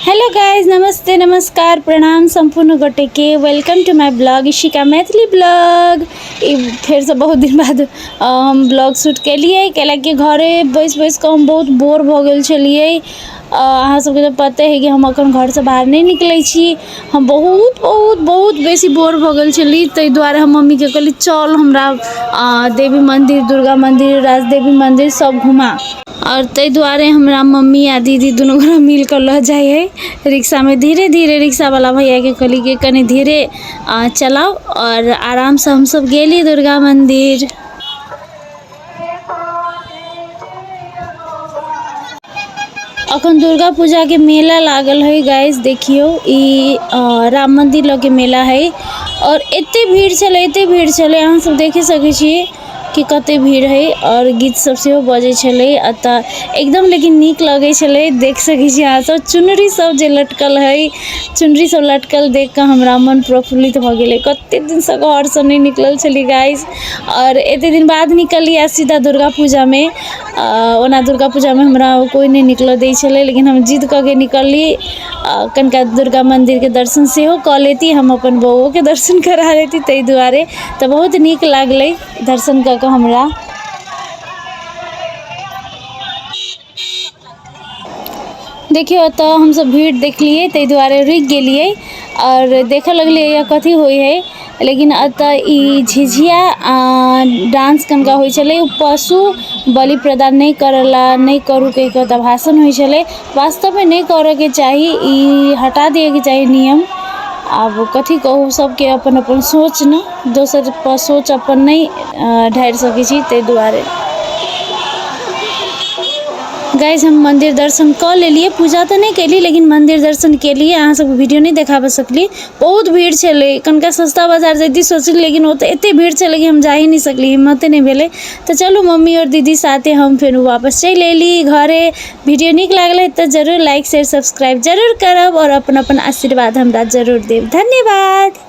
hello guys नमस्ते नमस्कार प्रणाम सम्पूर्ण गोटेके welcome to my blog Ishika Maithili blog ई फेरसँ बहुत दिन बाद हम ब्लग शूट केलिए कैलाकि घरे बैस बैस कऽ हम बहुत बोर भऽ गेल छलिए अहाँ सबके तऽ पते है कि हम अखन घरसँ बाहर नहि निकलै छी हम बहुत बहुत बहुत बेसी बोर भऽ गेल छली ताहि दुआरे हम मम्मीके कहली चल हमरा देवी मन्दिर दुर्गा मन्दिर राजदेवी मन्दिर सब घुमा आओर ताहि दुआरे हमरा मम्मी आ दीदी दुनू गोरा मिलि कऽ लऽ जाइ हइ रिक्शामे धीरे धीरे रिक्शावला भैयाकेँ कहली कि कनि धीरे चलाउ आओर आरामसँ हमसभ गेली दुर्गा मन्दिर अखन दुर्गा पूजा के मेला लागल है गाइस देखियो ई राम मंदिर लगे मेला है और एते भीड़ चले एते भीड़ चले अहाँ सब देखे सके छी कि कते भीड़ है और गीत सब से हो बजे छले अता एकदम लेकिन नीक लगे छले देख सके छी अहाँ सब चुनरी सब जे लटकल है चुनरी सब लटकल देख के हमरा मन प्रफुल्लित भ गेले कते दिन से घर से नहीं निकलल छली गाइस और एते दिन बाद निकलिया सीधा दुर्गा पूजा में अ, ओना दुर्गा पूजा में हमरा कोई नहीं निकल दे छले लेकिन हम जिद क के निकलली अ, कनिका दुर्गा मंदिर के दर्शन सेहो क लेती हम अपन बौओ के दर्शन करा लेती ताहि दुआरे तऽ बहुत नीक लागलै दर्शन कऽ कऽ हमरा देखियौ एतऽ हमसभ भीड़ देखलियै ताहि दुआरे रुकि गेलियै आओर देखऽ लगलियै यऽ कथी होइ हइ लेकिन एतऽ ई झिझिया डांस कनिका होइ छलै ओ पशु बलि प्रदान नहि करय लए नहि करू कहि कऽ एतऽ भाषण होइ छलै वास्तवमे नहि करऽके चाही ई हटा दिअऽके चाही नियम आब कथी कहू सबके अपन अपन सोच ने दोसरपर सोच अपन नहि ढारि सकै छी ताहि दुआरे गाइज हम मन्दिर दर्शन कऽ लेलियै पूजा तऽ नहि केलियै लेकिन मन्दिर दर्शन केलियै अहाँ सबके वीडियो नहि देखाबऽ सकलियै बहुत भीड़ छलै कनिका सस्ता बाजार जैती सोचलियै लेकिन ओतऽ एते भीड़ छलै कि हम जा ही नहि सकलियै हिम्मते नहि भेलै तऽ चलू मम्मी आओर दीदी साथे हम फेर वापस चलि अयली घरे वीडियो नीक लागलै तऽ जरूर लाइक शेयर सब्सक्राइब जरूर करब आओर अपन अपन आशीर्वाद हमरा जरूर देब धन्यवाद